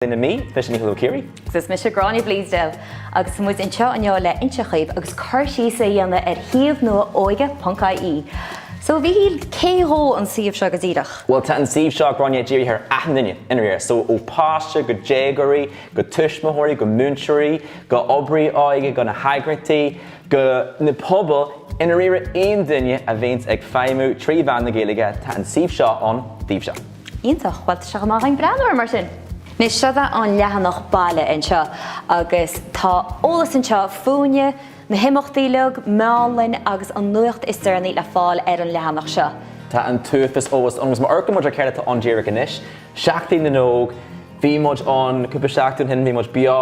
Sin i mí, is mise Mícheál Ó Ciaraidh. Agus is mise Gráinne Bleasdale. Agus tá muid anseo inniu le inse dhaoibh agus cur síos a dhéanamh ar shuíomh nua óige ponc ie. So, Mhíchíl, cé dhó an suíomh seo go díreach? Bhuel, tá an suíomh seo, Gráinne, dírithe ar achan duine i ndáiríre, so ó páiste go déagóirí, go tuismitheoirí, go múinteoirí, go oibrithe óige, go na heagraíochtaí, go na pobail i ndáiríre aon duine a bhíonns ag feidhmiú trí mheán na Gaeilge, tá an suíomh seo ann daoibhse. Iontach. Bhuel, tá sé chomh maith againn breathnú air mar sin. Anois, seo é an leathanach baile anseo agus tá eolas anseo fúinne, na himeachtaí uilig, meánlann agus an nuacht is deireanaí le fáil ar an leathanach seo. Tá an t-uafas eolas ann agus má amharcann muid ar céard atá ann díreach anois, Seachtain na nÓg, bhí muid ann cúpla seachtain ó shin, bhí muid beo,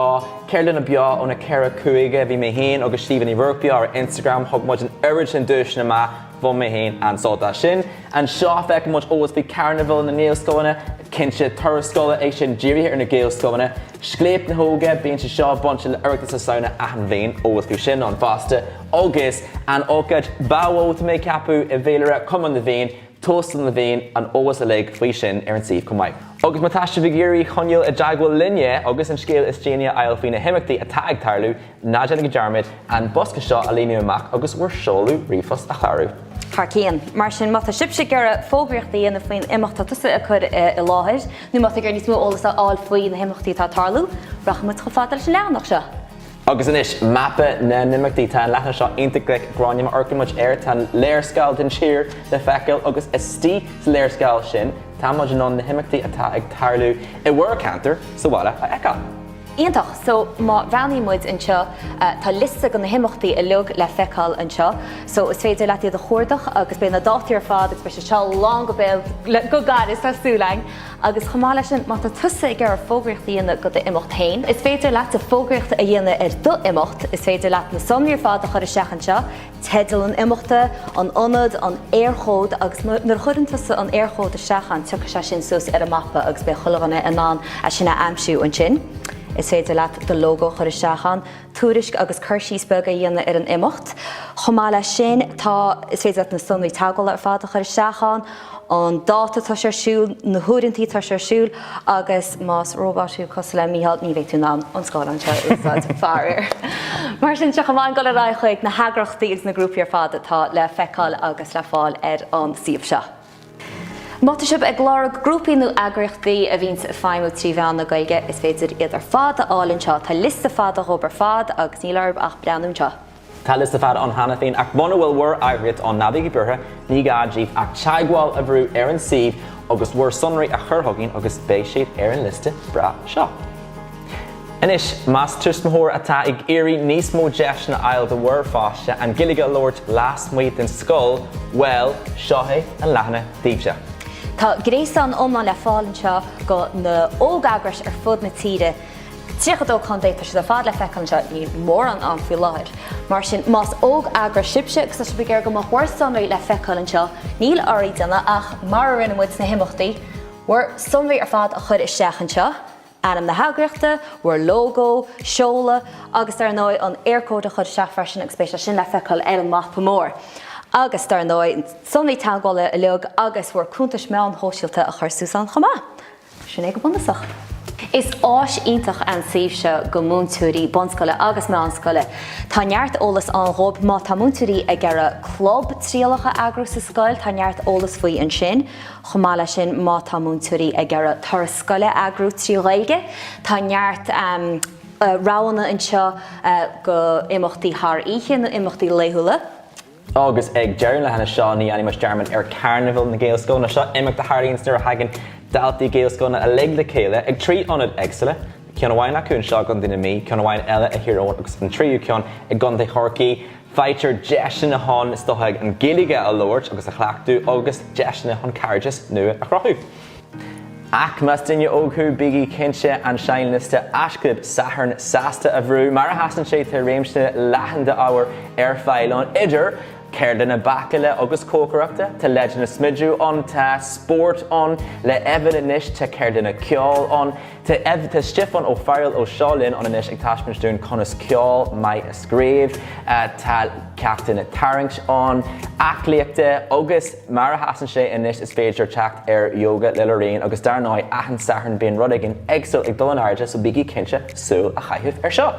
ceardlanna beo ó na ceithre chúige, bhí mé féin agus Síomha Ní Ruairc beo ar Instagram, thug muid an oiread sin duaiseanna amach. Bhain mé féin an-sult as sin. Anseo, feicfidh muid eolas faoi charnabhal na nGaelscoileanna. Cinnte, turas scoile é sin dírithe ar na Gaelscoileanna. Scléip na hÓige, bíonn sé seo bainte le Oireachtas na Samhna achan bhliain, eolas faoi sin ann fosta. Agus an ócáid ba mhó, tá mé ag ceapadh, i bhféilire Chumann na bhFiann, Tóstal na bhFiann, an eolas uilig faoi sin ar an suíomh chomh maith. Agus má tá sibh ag iarraidh choinneáil i dteagmháil linne agus an scéal is déanaí a fháil faoi na himeachtaí atá ag tarlú, Ná déanaigí dearmad an bosca seo a líonadh amach agus bhur seoladh ríomhphost a chlárú. Thar cionn. Mar sin, má tá sibhse ag iarraidh fógraíocht a dhéanamh faoin imeacht atá tusa ag cur i láthair, nó má tá ag iarraidh níos mó eolas a fháil faoi na himeachtaí atá ag tarlú, rachaidh muid chomh fada leis an leathanach seo. Agus anois, mapa na n-imeachtaí. Tá an leathanach seo iontach glic, Gráinne, má amharcann muid air. Tá an léarscáil den tír le feiceáil agus istigh sa léarscáil sin tá muid in ann na himeachtaí atá ag tarlú i bhur gceantar, sa bhaile, a fheiceáil. Iontach! So, má bhreathnaíonn muid anseo, tá liosta de na himeachtaí uilig le feiceáil anseo. So, is féidir leat iad a chuardach agus beidh na dátaí ar fad agus beidh sé seo lán go béal go gairid, tá súil againn! Agus chomh maith leis sin, má tá tusa ag iarraidh fógraíocht a dhéanamh do d'imeacht féin, is féidir leatsa fógraíocht a dhéanamh ar d'imeacht. Is féidir leat na sonraí ar fad a chur isteach anseo. Teideal an imeachta, an ionad, an Éirchód agus nuair a chuireann tusa an Éirchód isteach ann tiocfaidh sé sin suas ar an mapa agus beidh chuile dhuine in ann é sin a aimsiú ansin. Is féidir leat do logo a chur isteach ann, tuairisc agus cur síos beag a dhéanamh ar an imeacht. Chomh maith leis sin tá, is féidir leat na sonraí teagmhála ar fad a chur isteach ann. an dáta atá sé ar siúl, na huaireantaí atá sé ar siúl agus más róbot thú, cosúil le Mícheál, ní bheidh tú in ann an scáileán seo a úsáid, faraor. Mar sin, tá sé chomh maith againn dul ar aghaidh chuig na heagraíochtaí agus na grúpaí ar fad atá le feiceáil agus le fáil ar an suíomh seo. Má tá sibh ag lorg grúpaí nó eagraíochtaí a bhíonns ag feidhmiú trí mheán na Gaeilge, is féidir iad ar fad a fháil anseo. Tá liosta fada dhóibh ar fad agus níl oraibh ach breathnú anseo. Tá liosta fada ann cheana féin, ach muna bhfuil bhur n-eagraíocht ann, ná bígí buartha, ní gá díbh ach teagmháil a bhrú ar an suíomh agus bhur sonraí a chur chugainn agus beidh sibh ar an liosta breá seo. Anois, más tuismitheoir thú atá ag iarraidh níos mó deiseanna a fháil do bhur bpáiste an Ghaeilge a labhairt lasmuigh den scoil, bhuel, seo é an leathanach daoibhse. Tá gréasán iomlán le fáil anseo de na hóg-eagrais ar fud na tíre. 32 contae, tá siad ar fad le feiceáil anseo, níl mórán ann faoi láthair. Mar sin, más óg-eagras sibhse, agus tá sibh ag iarraidh go mbeadh bhur sonraí le feiceáil anseo, níl oraibh le déanamh ach, mar a rinne muid sna himeachtaí, bhur sonraí ar fad a chur isteach anseo, ainm na heagraíochta, bhur lógó, seoladh, agus dar ndóigh, an Eircode a chur isteach freisin, agus beidh sé sin le feiceáil ar an mapa mór. Agus, dar ndóigh, sonraí teagmhála uilig, agus bhur gcuntais meán shóisialta a chur suas ann chomh maith. Sin é go bunúsach. Is áis iontach an suíomh seo go múinteoirí bunscoile agus meánscoile. Tá neart eolas ann dhóib má tá múinteoirí ag iarraidh club trialach a eagrú sa scoil, tá neart eolas faoi ansin. Chomh maith le sin má tá múinteoirí ag iarraidh turas scoile a eagrú trí Ghaeilge, tá neart roghanna anseo do imeachtaí thar oíche nó imeachtaí laethúla. Agus ag deireadh an leathanaigh seo ní dhéanaimis dearmad ar Charnival na Gaelscoileanna. Seo imeacht a tharlaíonns nuair a thagann daltaí Gaelscoileanna uilig le chéile ag trí ionad éagsúla, ceann amháin acu anseo i gContae na Mí, ceann amháin eile i dTír Eoghain agus an tríú ceann i gContae Chorcaí. Faightear deiseanna chun, is dócha, an Ghaeilge a labhairt agus a chleachtadh agus deiseanna chun cairdeas nua a chruthú. Ach más duine óg thú, bígí cinnte an seinnliosta Aisclub Sathairn Sásta a bhrú, mar a sheasann sé tá réimse leathan d'ábhair ar fáil ann, idir ceardlanna bácála agus cócaireachta, tá leideanna smididh ann, tá spórt ann, le Evan anois, tá ceardlanna ceoil ann, Tá Stiofán Ó Fearail ó Seo Linn ann anois ag taispeáint dúinn conas ceol maith a scríobh. Tá ceachtanna tarraingt ann, aclaíochta agus mar a sheasann sé anois is féidir teacht ar yoga le Lorraine agus dar ndóigh achan Satharn bíonn rud éigin éagsúil ag dul in airde so bígí cinnte súil a chaitheamh ar seo!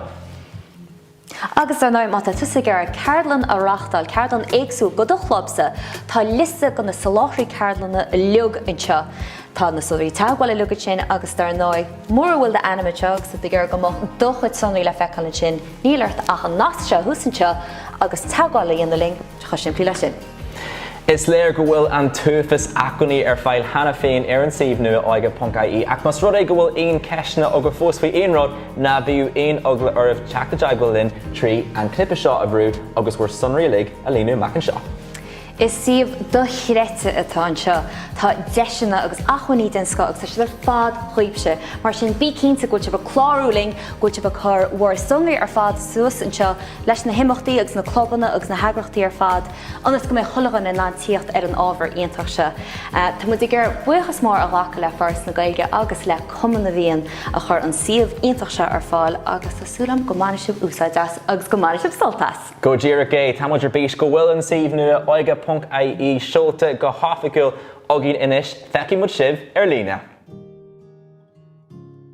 Agus dar ndóigh, má tá tusa ag iarraidh ceardlann a reáchtáil, ceardlann éagsúil do do chlubsa, tá liosta de na soláthraithe ceardlanna uilig anseo. Tá na sonraí teagmhála uilig ansin agus dar ndóigh, mura bhfuil d'ainm anseo agus tú ag iarraidh go mbeadh do chuid sonraí le feiceáil ansin, níl ort ach an nasc seo a fháil thuas anseo agus teagmháil a dhéanamh linn, tá sé chomh simplí leis sin. Is léir go bhfuil an t-uafás acmhainní ar fáil cheana féin ar an suíomh nua Óige.ie ach más rud é go bhfuil aon cheisteanna agaibh fós faoi aon rud, ná bíodh aon eagla oraibh teacht i dteagmháil linn trí an cnaipe seo a bhrú agus bhur sonraí uilig a líonadh amach anseo. Is suíomh dochreidte atá anseo. Tá deiseanna agus acmhainní den scoth agus tá siad ar fad daoibhse. Mar sin, bí cinnte go bhfuil sibh ag clárú linn, go bhfuil sibh ag cur bhur sonraí ar fad suas anseo, leis na himeachtaí agus na clubanna agus na heagraíochtaí ar fad ionas go mbeidh chuile dhuine in ann tíocht ar an ábhar iontach seo. Tá muid ag iarraidh buíochas mór a ghlacadh le Foras na Gaeilge agus le Cumann na bhFiann a chuir an suíomh iontach seo ar fáil agus tá súil agam go mbainfidh sibh úsáid as agus go mbainfidh sibh sult as! Go díreach é, tá muid ar bís go bhfuil an suíomh nua oige.ie seolta go hoifigiúil againn anois. Feicfidh muid sibh ar líne!